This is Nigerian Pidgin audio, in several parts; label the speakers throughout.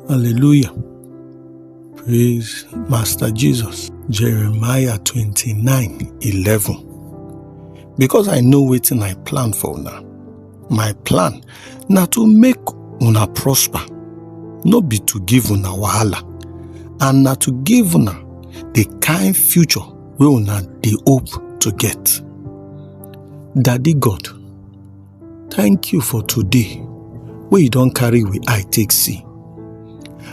Speaker 1: Hallelujah. Praise Master Jesus. Jeremiah 29 11. Because I know waiting I plan for now. My plan now to make una prosper, no be to give una wahala, and now to give una the kind future we una the hope to get. Daddy God, Thank you for today wey you don carry we eye take see.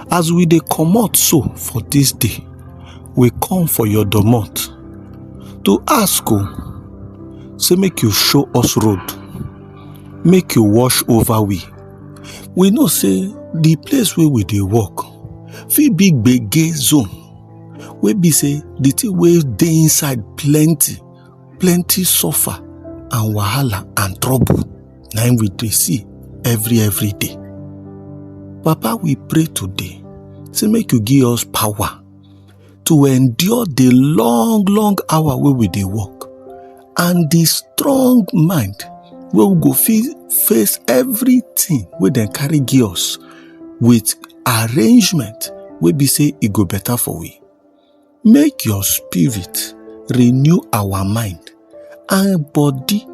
Speaker 1: As we dey comot so for this day, we come for your domot to ask o say make you show us road, make you wash over we. We know say the place wey we dey work fit be gbege zone wey be say the thing wey dey inside plenty. plenty suffer and wahala and trouble na im we dey see every every day papa we pray today say make you give us power to endure the long long hour wey we dey work and the strong mind wey we go fit face everything wey dem carry give us with arrangement wey be say e go better for we Make your spirit renew our mind and body.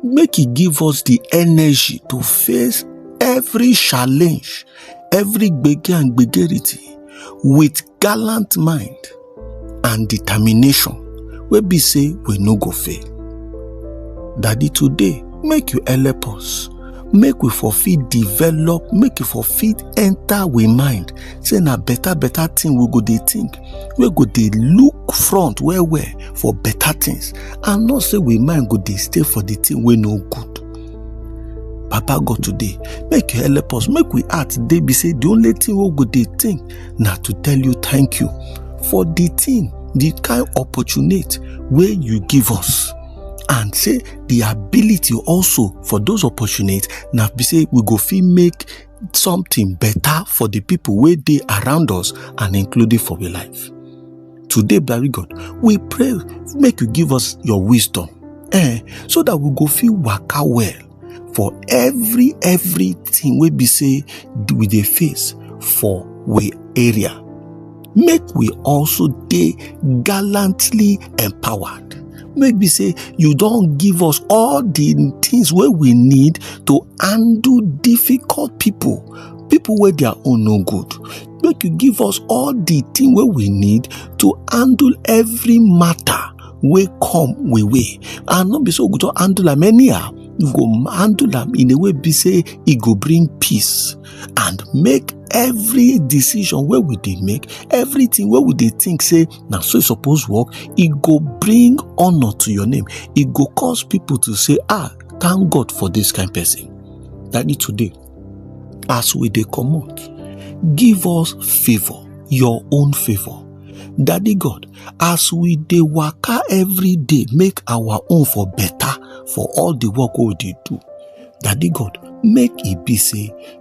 Speaker 1: Make e give us the energy to face every challenge, every gbege and gbegerity with gallant mind and determination wey be say we no go fail. Daddy today make you help us make we for fit develop make e for fit enter we mind say na better better thing we go dey think we go dey look front well well for better things and not say we mind go dey stay for the thing wey no good papa god today make you help us make we heart dey be say the only thing we go dey think na to tell you thank you for the thing the kind opportunity wey you give us and say the ability also for those opportunities na be say we go fit make something better for the people wey dey around us and including for we life today blari god we pray make you give us your wisdom eh so that we go fit waka well for every everything wey be say we dey face for we area make we also dey gallantly empowered make be say you don give us all the things wey we need to handle difficult people people wey their own no good make you give us all the thing wey we need to handle every matter wey come we way and no be so we go just handle am anyhow we go handle am in a way be say e go bring peace and make every decision wey we dey make everything wey we dey think say na so e suppose work e go bring honour to your name e go cause people to say ah thank god for this kind person daddy today as we dey comot give us favour your own favour daddy god as we dey waka every day make our own for better for all the work wey we dey do daddy god make e be say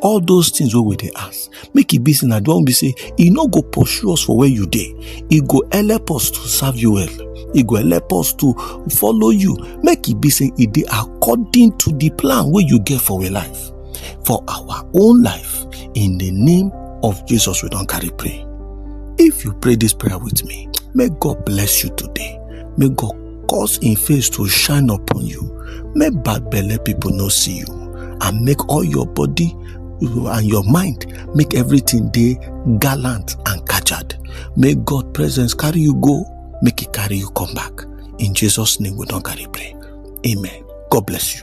Speaker 1: all those things wey we dey ask make e be say na the one be say e no go pursue us for where you dey e go help us to serve you well e go help us to follow you make e be say e dey according to the plan wey you get for our life for our own life in the name of jesus we don carry pray if you pray this prayer with me may god bless you today may god cause im face to shine upon you make bad belle people no see you and make all your body and your mind make everything dey gallant and kajad make god presence carry you go make e carry you come back in jesus name we don carry pray amen god bless you